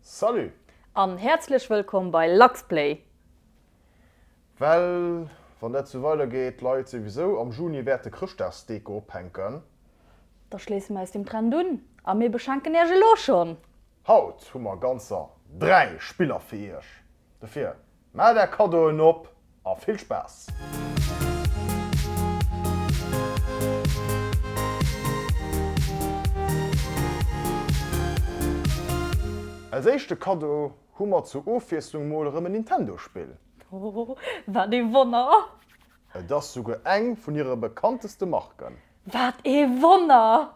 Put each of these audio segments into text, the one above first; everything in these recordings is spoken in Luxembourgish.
Salut! An häerzlech wëllkomm bei Luxplay! Well wann dat sou weider geet, d'Leit souwisou am Juni wäerte Chrëschtdagsdeko ophänken. Da schléisse mir eis dem Trend un a mir beschenken iech elo schonn! Haut hu mer ganzer 3 Spiller fir iech! Dofir Mellt är Kaddoen op a vill Spaass! Als éischte Kaddo hu mer zur Ofwiesslung mol erëm en Nintendo-Spill. Oh, wat ee Wonner! Et ass souguer eng vun hire bekannteste Marken. Wat ee Wonner!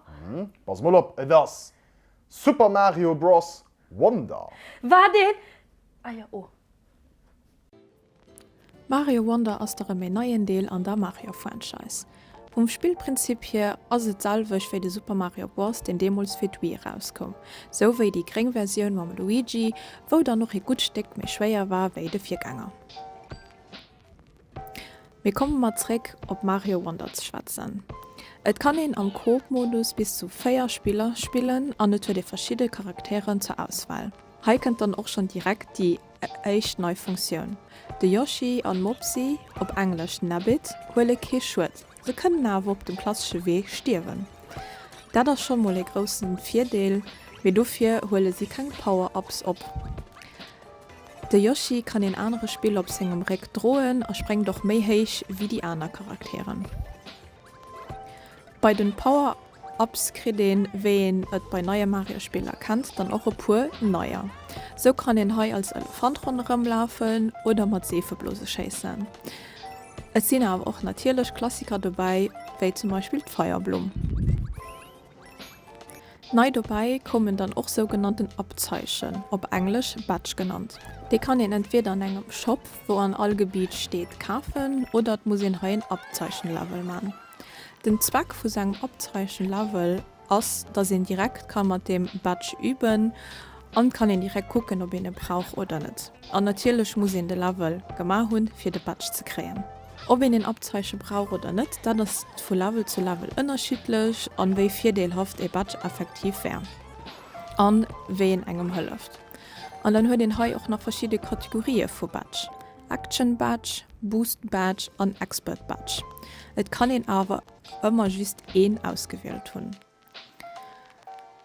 Pass mol op, et ass Super Mario Bros. Wonder. War deen? Ah jo, oh. Mario Wonder ass derëm een neien Deel an der Mario-Franchise. Vum Spillprinzip hier ass et d'selwecht wéi de Super Mario Bros, deen deemools fir d'Wii erauskoum, sou wéi déi gréng Versioun mam Luigi, wou dann och ee gutt Stéck méi schwéier war wéi de Virgänger. Mee komme mer zréck op Mario Wonder ze schwätzen. Et kann een am Coop-Modus bis zu 4 Spiller spillen an et huet ee verschidde Charakteren zur Auswahl. Hei kënnt dann och schonn direkt déi éischt nei Funktioun, De Yoshi an Mopsy, op Englesch Nabbit, huele kee Schued. Se kënnen awer op dem klassesche Wee stierwen. Dat ass schonn mol ee groussen Virdeel, mee dofir huele si keng Power-Ups op. De Yoshi kann een anere Spill op sengem Réck droen a sprengt och méi héich wéi déi aner Charakteren. Bei den Power. Apps kritt een, wéi een et bei neie Mario-Spiller kennt, dann och e puer neier. Sou kann een hei als Elefant ronderëm lafen oder mat Seefeblose schéissen. Et sinn awer och natierlech Klassiker dobäi, wéi zum Beispill d'Feierblumm. Nei dobäi koumen dann och sougenannten Abzeichen, op Englesch Badge genannt. Déi kann een entweeder an engem Shop, wou an all Gebiet steet, kafen oder et muss een hei en Abzeichen-Level man. Den Zweck vu sengem Abzeichen Level ass dass een direkt kann mat deem Badge üben an kann een direkt kucken op een e brauch oder net. An natierlech muss een de Level gema hunn fir de Badge ze kréien. Ob een een Abzeichen brauch oder net, dat ass vu Level zu Level ënnerschiddlech an wéi virdeelhaft ee Badge effektiv wär an wéi een engem hëlleft. An dann huet een hei och nach verschidde Kategorië vu Badge. Action Badge, Boost Badge an Expert Badge. Et kann een awer ëmmer just een ausgewielt hunn.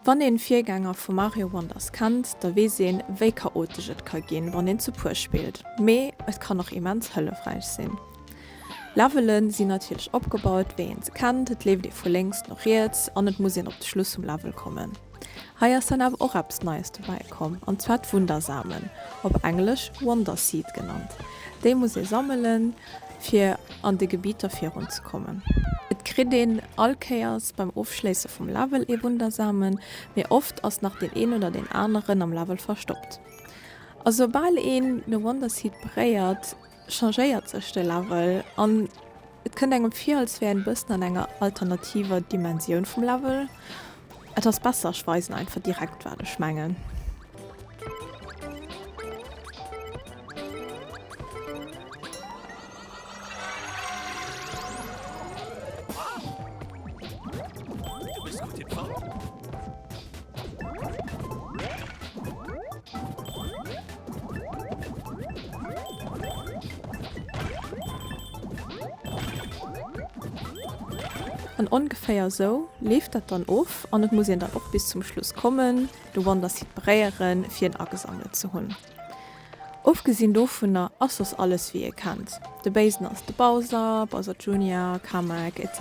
Wann een Virgänger vu Mario Wonders kennt, da weess een wéi chaotesch et ka ginn wann een zu puer spillt, mee et kann och immens hëllefräich sinn. Levele sinn natierlech opgebaut wéi een se kennt, et leeft ee vu lénks no riets an et muss een op de Schluss vum Level kommen. Hei ass dann awer och eppes Neies dobäi komm, an zwar d'Wundersamen, op Englesch Wonder Seed genannt. Déi muss ee sammelen, fir an de Gebitter virun ze kommen. Et kritt een all Kéiers beim Ofschléisse vum Level ee Wundersamen, mee oft ass nach deen een oder deen aneren am Level verstoppt. A soubal een de Wonder Seed beréiert, changéiert sech de Level an et kënnt engem vir als wär een e bëssen an enger alternativer Dimensioun vum Level. Et ass besser ech weisen einfach direkt wat ech mengen. An ongeféier esou leeft dat dann of an et muss een dann och bis zum Schluss kommen, de Wonderseed bréieren, fir en agesammelt ze hunn. Ofgesinn dovunner ass soss alles wéi ee kennt, de Béisen ass de Bowser, Bowser Junior, Kamek, etc.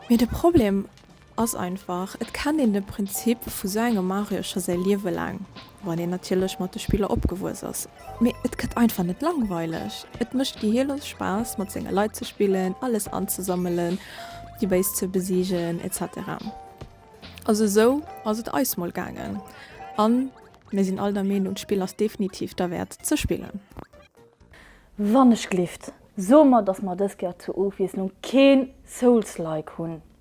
Mee de Problem Ass einfach, et kennt een de Prinzip vu sou engem Mario scho säi Liewe laang, wann een natierlech mat de Spiller opgewuess ass, mee et gëtt einfach net langweileg. Et mécht gehirlos Spaass mat senge Leit ze spillen, alles anzesammelen, déi Béis ze besiegen, etc. Also esou ass et eis mol gaangen a mir sinn all der Meenung, d'Spill ass definitiv derwäert ze spillen. Wann ech gleeft, soe mer, dass mer dës Kéier zur Ofwiesslung keen Souls-like hunn.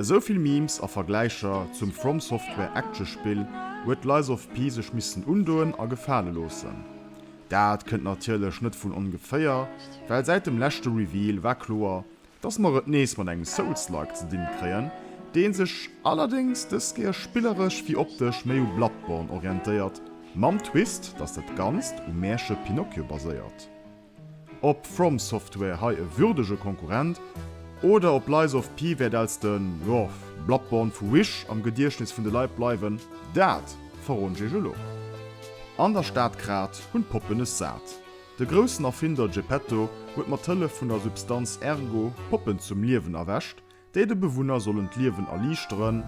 Esou vill Memes a Vergläicher zum FromSoftware Actiospill huet Lies of P sech missen undoen a gefale loossen. Dat kënnt natierlech net vun ongeféier, well säit dem leschte Reveal war kloer, dass mer et nees mat engem Souls-like ze dinn kréien, dee sech allerdéngs dës Kéier spilleresch wéi optesch méi u Bloodborne orientéiert, mam Twist, dass dat Ganzt um Mäerche Pinocchio baséiert. Ob From Software hei e würdege Konkurrent oder ob Lies of P wäert als de, jo, Bloodborne vu Wish am Gediechtnes vun de Leit bleiwen, dat verroden ech iech elo. An der Stad Grad hunn d'Poppen es sat. De groussen Erfinder Geppetto huet mat Hëllef vun der Substanz Ergo Poppen zum Liewen erwächt Déi de Bewunner sollen d'Liewen erliichteren.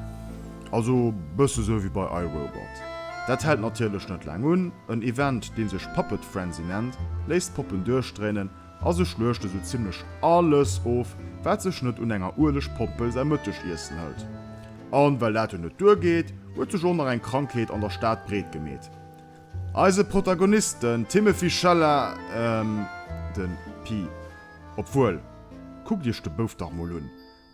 Also bësse sou wéi bei iRobot. Dat hält natierlech net laang un. En Event, dee sech Puppet Frenzy nennt, léisst d'Poppen duerchdréinen a se schluechte sou zimmlech alles of, wat sech net un enger ueleg Pompel säi Mëttegiessen hëlt. A well dat jo net duergeet, huet sech och nach eng Krankheet an der Stad breet gemeet. Eise Protagonist, den Timothy Chalamet, de Pi, obwuel, kuckt Iech de Bouf dach mol un,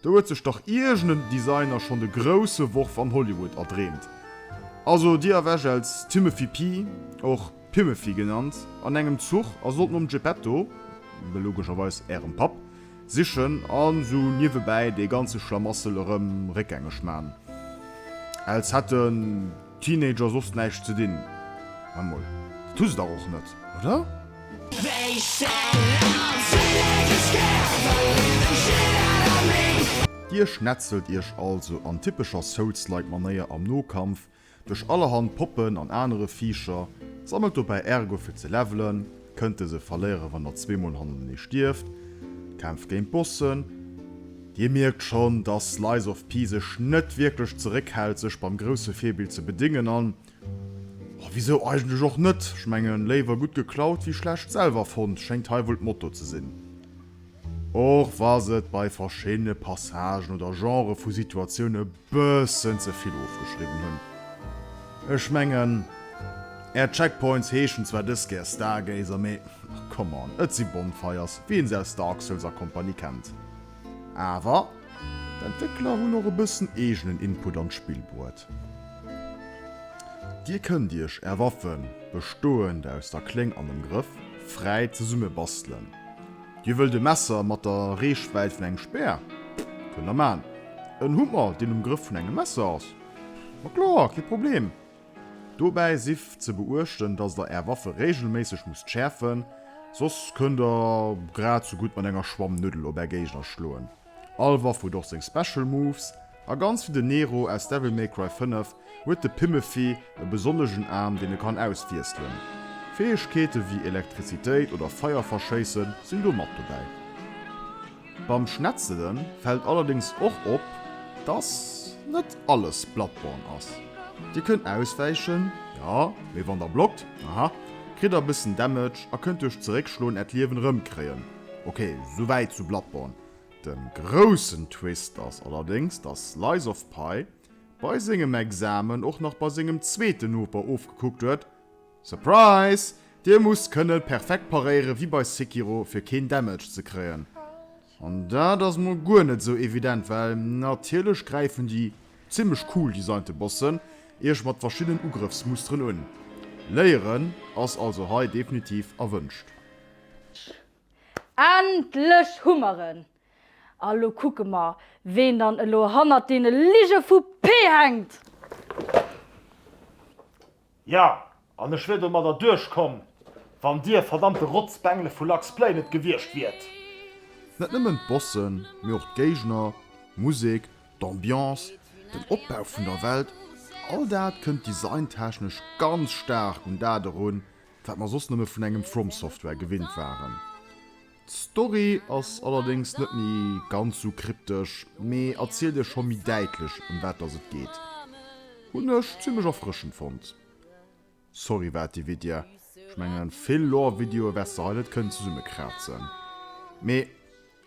do huet sech dach iergend en Designer schonn de grousse Worf an Hollywood erdreemt. Also Dir erwescht als Timothy Pi, och Pimothy genannt, an engem Zuch a sollt nom Geppetto, logescherweis Ärem Papp, sichen an esou niewebäi dee ganze Schlamassel erëm réckgängeg man, als hätt en, Teenager soss näischt ze dinn? Maat mol, dat hu se dach och net, oder? Dir schnetzelt iech also an typescher Souls-like Manéier am Nokampf duerch allerhand Poppen an anere Viicher, sammelt dobäi Ergo fir ze levelen, kënnt dëse verléieren, wann der zwee Mol hannertenee stierft. Kämpf géint Bossen. Dir mierkt schonn, dass Slice of P sech net wierklech zeréckhält, sech beim grousse Virbild ze bedéngen. An wisou eigentlech och net? Ech mengen, léiwer gutt geklaut wéi schlecht selwer fonnt, schéngt hei wuel d'Motto ze sinn. Och wa se et bei verschiddene Passagen oder Genrë vu Situatioun e bëssen ze vill ofgeschriwwen hunn. Ech mengen, Är Checkpoints heeschen zwar dës Kéier Stargazer, mee come on, et si Bonfires, wéi een se aus Dark Souls a Kompanie kennt. Awer d'Entwéckler hunn och e bëssen eegenen Input an d'Spill bruet. Dir kënnt Iech Är Waffen, bestoend aus der Kléng an dem Grëff, fräi zesumme bastelen. Dir wëllt e Messer mat der Reechwäit vun engem Speer? Kënnt der man. En Hummer, deen um Grëff vun engem Messer ass? Ma kloer, kee Problem. Dobäi sief ze beuechten, dass der är Waffe reegelméisseg musst schäerfen, soss kënnt der grad sou gutt mat enger Schwammnuddel op är Géigner schloen. All Waff huet och seng Special Moves, a ganz wéi den Nero aus Devil May Cry 5 huet de Pimmefi e besonnegen Aarm deen e kann auswiesselen. Fäegkeete wéi Elektrizitéit oder Feier verschéisse sinn do mat dobäi. Beim Schnetzele fält allerdéngs och op, dass net alles Bloodborne ass. Dir kënnt auswäichen, jo, mee wann der blockt, aha, kritt der e bëssen Damage a kënnt duerch zeréckschloen Äert Liewen erëmkréien. Ok, souwäit zu Bloodborne. Den groussen Twist ass allerdéngs, dass Slice of Pie bei sengem Examen och nach bei sengem zweeten Noper ofgekuckt huet, Surprise! Dee muss kënnen perfekt paréieren, wéi bei Sekiro, fir keen Damage ze kréien. An dat ass mol guer net esou evident, well natierlech gräifen déi zimmlech cool designte Bossen iech mat verschiddenen Ugrëffsmusteren un. Léieren ass also hei definitiv erwënscht. Endlech hu mer en! A lo kucke mer, ween dann elo hannert deene Lige vu P hänkt! Ja, an ech wier domadder duerchkomm, wann dir verdammte Rotzbengele vu Lux Play net gewiescht wiert! Net nëmmen d'Bossen, mee och d'Géigner, d'Musek, d'Ambiance, den Opbau vun der Welt, all dat kënnt designtechnesch ganz staark un dat erun, wat mer soss nëmme vun engem From Software gewinnt waren. D'Story ass allerdéngs net méi ganz sou kryptesch, mee erzielt iech scho méi däitlech ëm wat dass et geet. Hunn ech zimlech erfrëschend fonnt. Sorry wat déi Videa, ech mengen vill Lore Videoe wär's de hei net kënnen zesummekraatzen, mee.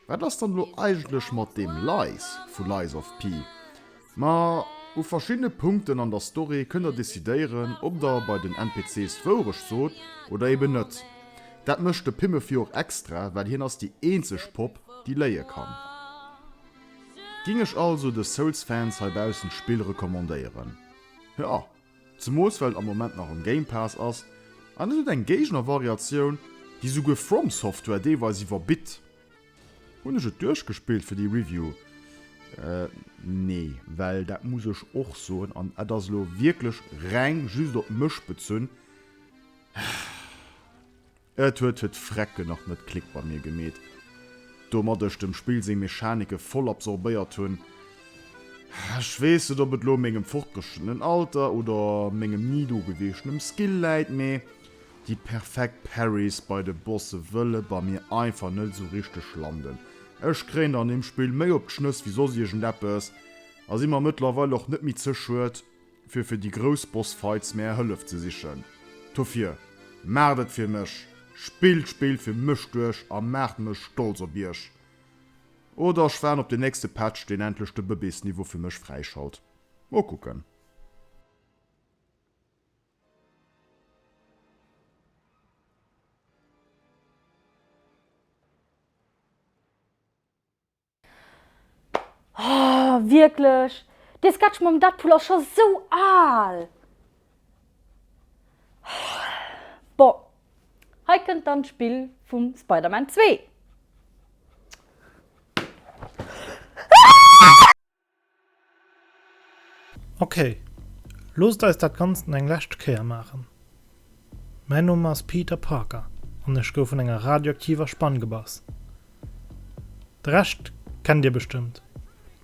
Wat ass dann elo eigentlech mat deem Lies vu Lies of P? Ma u verschiddene Punkten an der Story kënnt der decidéieren, ob der bei den NPCs d'Wourecht sot oder eben net. Dat mécht de Pimefy och extra, well hien ass déi eenzeg Popp, déi léie kann. Ging ech also de Souls-Fans heibaussen d'Spill recommandéieren? Jo! Zemools well et am Moment nach am Game Pass ass, an et huet eng Géigner-Variatioun, déi souguer From Software deelweis iwwerbitt. Hunn ech et duerchgespillt fir déi Review? Nee, well dat muss ech och soen, an et ass elo wierklech reng just op mech bezunn, Et huet huet d'Frecken nach net Klick bei mir gemeet, domat ech dem Spill seng Mechanike voll absorbéiert hunn. Ech weess net, ob et lo u mengem fortgeschrittenen Alter oder mengem ni do geweeschtenem Skill läit, mee déi perfekt Parries bei de Bosse wëlle bei mir einfach net esou richteg landen. Ech kréien an deem Spill méi op d'Schnëss wéi soss iergendeppes a si mer mëttlerweil och net méi ze schued, fir fir déi grouss Boss Fights mär Hëllef ze sichen. Dofir, maacht et fir mech! Spillt d'Spill fir mech duerch a maacht mech stolz op iech! Oder ech waarden op den nächste Patch deen endlech de Bëbees Niveau fir mech fräischalt. Mol kucken. Oh, wierklech? Dee Sketch mam Deadpool ass scho sou al! Bon, hei kënnt dann d'Spill vum Spider-Man 2. Ok, loosst eis dat Ganzt eng lescht Kéier maachen. Mäin Numm ass Peter Parker an ech gouf vun enger radioaktiver Spann gebass. De Rescht kennt dir bestëmmt,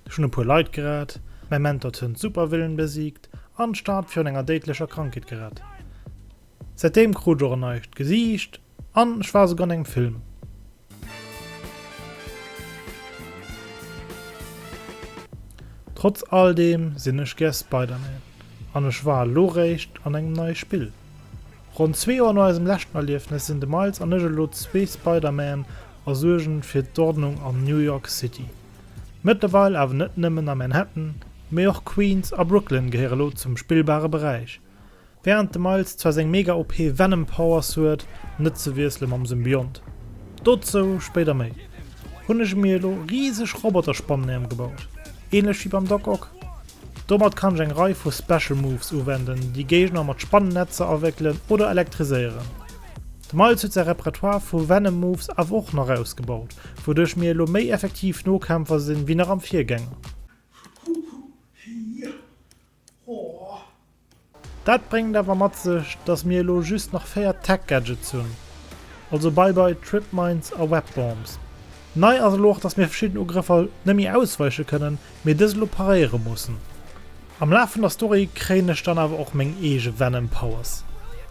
ech hunn e puer Leit gerett, mäi Mentor d'Hënn d'Supervillen besiegt an d'Stad virun enger déidlecher Krankheet gerett. Säitdeem krut ech och en neicht Gesiicht an ech war esouguer an engem Film. Trotz all deem sinn ech gär Spider-Man an ech war elo réischt an engem neie Spill. Ronn zwee Joer no eisem leschten Erliefnes sinn de Miles an ech elo zwee Spider-Man a suergen fir d'Ordnung an New York City. Mëttlerweil awer net nëmmen a Manhattan, mee och Queens a Brooklyn gehéiere elo zum spillbare Beräich. Während de Miles zwar seng mega OP Venom Powers huet, net ze wiessele mam Symbiont, dozou spéider méi, hunn ech mir elo riseg Roboterspannen émgebaut, ähnlech wéi beim Doc Ock. Domat kann ech eng Rei vu Special Moves uwenden, déi Géigner mat Spannennetzer awéckelen oder elektriséieren. De Miles huet säi Repertoire vu Venom Moves awer och nach ausgebaut, wouduerch mir elo méi effektiv Nokämpfer sinn wéi nach am Virgänger. Dat bréngt awer mat sech, dass mir elo just nach 4 Tech-Gadgets hunn. Also bye bye Tripmines a Webbombs. Nei ass elo och, dass mir verschidden Ugrëffer nemme ausweiche kënnen, mee dës elo paréiere mussen. Am Laf vun der Story kréien ech dann awer och meng eege Venom Powers.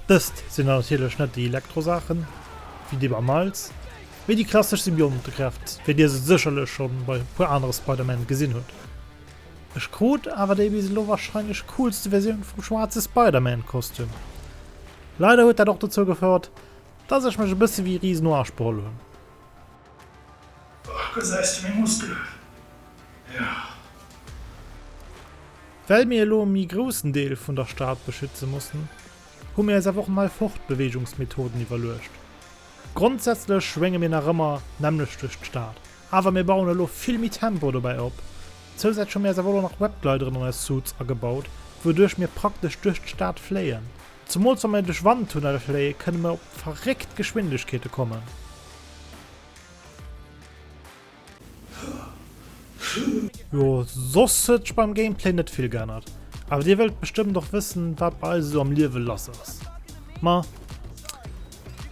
Dëst sinn dann natierlech net déi Elektro-Saachen, wéi déi beim Miles, mee déi klassesch Symbiontekräft, wéi dir se sécherlech schonn bei e puer anere Spider-Man gesinn hutt. Ech krut awer déi bis elo warscheinlech coolste Versioun vum schwaarze Spider-Man Kostüm. Leider huet dat och dozou gefouert dass ech mech e bësse wéi Riz Noach beholl hunn. Och gesäis de meng Muskelen, jo. Well mir elo e méi groussen Deel vun der Stad beschütze mussen, hu mir eis awer och nei Fortbeweegungsmethoden iwwerluecht. Grondsätzlech schwénge mir nach ëmmer nämmlecht duerch d'Stad, awer mir bauen elo vill méi Tempo dobäi op. Zousätzlech hu mir eis awer elo nach Webgleideren an eis Suits agebaut, wouduerch mir praktesch duerch d'Stad fléien. Zemools wa mir duerch Wandtunnelle fléie kënne mir op verréckt Geschwindegkeete kommen. Jo soss huet sech beim Gameplay net vill geännert, awer dir wëllt bestëmmt och wëssen wat bei eis esou am Liewe lass ass. Ma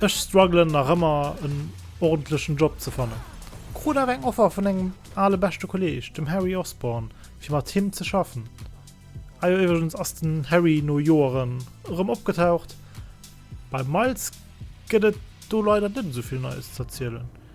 ech struggelen nach ëmmer en ordentlechen Job ze fannen. Krut awer eng Offer vun engem ale beschte Kolleg, dem Harry Osborn, fir mat him ze schaffen. Ah jo iwwregens ass den Harry no Joeren erëm opgetaucht. Beim Miles gëtt et do leider net esou vill Neies z'erzielen,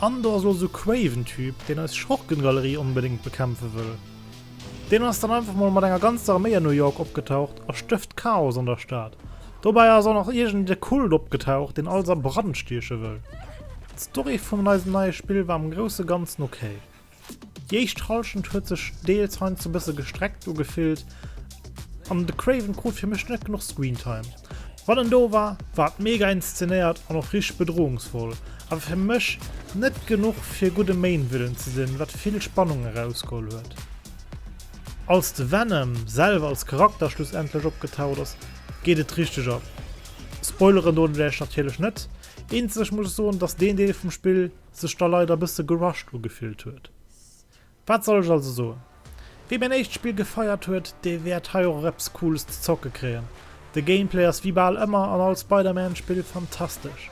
Andor ass lo sou craven Typ deen eis Schurkengalerie onbedéngt bekämpfe wëll. Deen ass dann einfach mol mat enger ganzer Arméi an New York opgetaucht a stëft Chaos an der Stad. Dobäi ass och nach iergend e Kult opgetaucht deen alles a Brand stieche wëll. D'Story vun eisem neie Spill war am grousse ganzen ok. Déi éischt Halschent huet sech deels heiansdo e bësse gestreckt ugefillt an de Craven krut fir mech net genuch Screentime. Wann en do war, war et mega inszenéiert an och richteg bedroungsvoll, awer fir mech net genuch fir gudde Main-Villain ze sinn, wat vill Spannung erausgeholl huet. Als de Venom selwer als Charakter schlussendlech opgetaucht ass, geet et richteg ab. Spoileren doten ech Iech natierlech net, eenzeg muss ech soen, dass deen Deel vum Spill sech da leider e bësse gerusht ugefillt huet. Wat soll ech also soen, wee mäin éischt Spill gefeiert huet, dee wäert hei och eppes Cooles ze zocke kréien. De Gameplay ass wéi bal ëmmer an all Spider-Man-Spill fantastesch.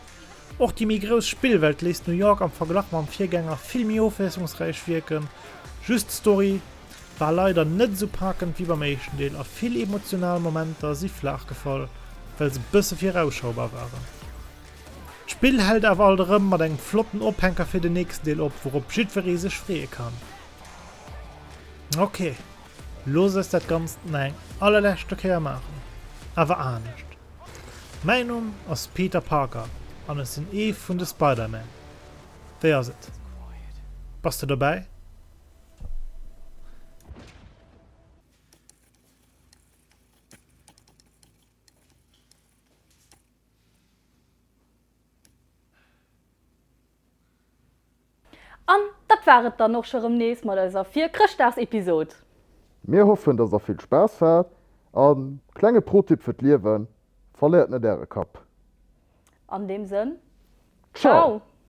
Och déi méi grouss Spillwelt léisst New York am Verglach mam Virgänger vill méi ofwiesslungsräich wierken, just d'Story war leider net esou paakend wéi beim éischten Deel a vill emotional Momenter si flaach gefall, well se bësse virausschaubar waren. D'Spill hält awer alt erëm mat engem flotten Ophänker fir den nächsten Deel op, wourop jiddweree sech freeë kann. Ok, looss eis dat Ganzt nach eng allerleschte Kéier maachen, awer anescht. Mäin Numm ass Peter Parker an ech sinn ee vun de Spider-Man. Wéi ass et, bass de dobäi? An dat war et dann och scho rëm nees mat eiser Virchrëschtdagsepisode. Mir hoffen, dass der vill Spaass hat a klenge Pro-Tipp fir d'Liewen, Verléiert net äre Kapp! An deem Sënn, Ciao!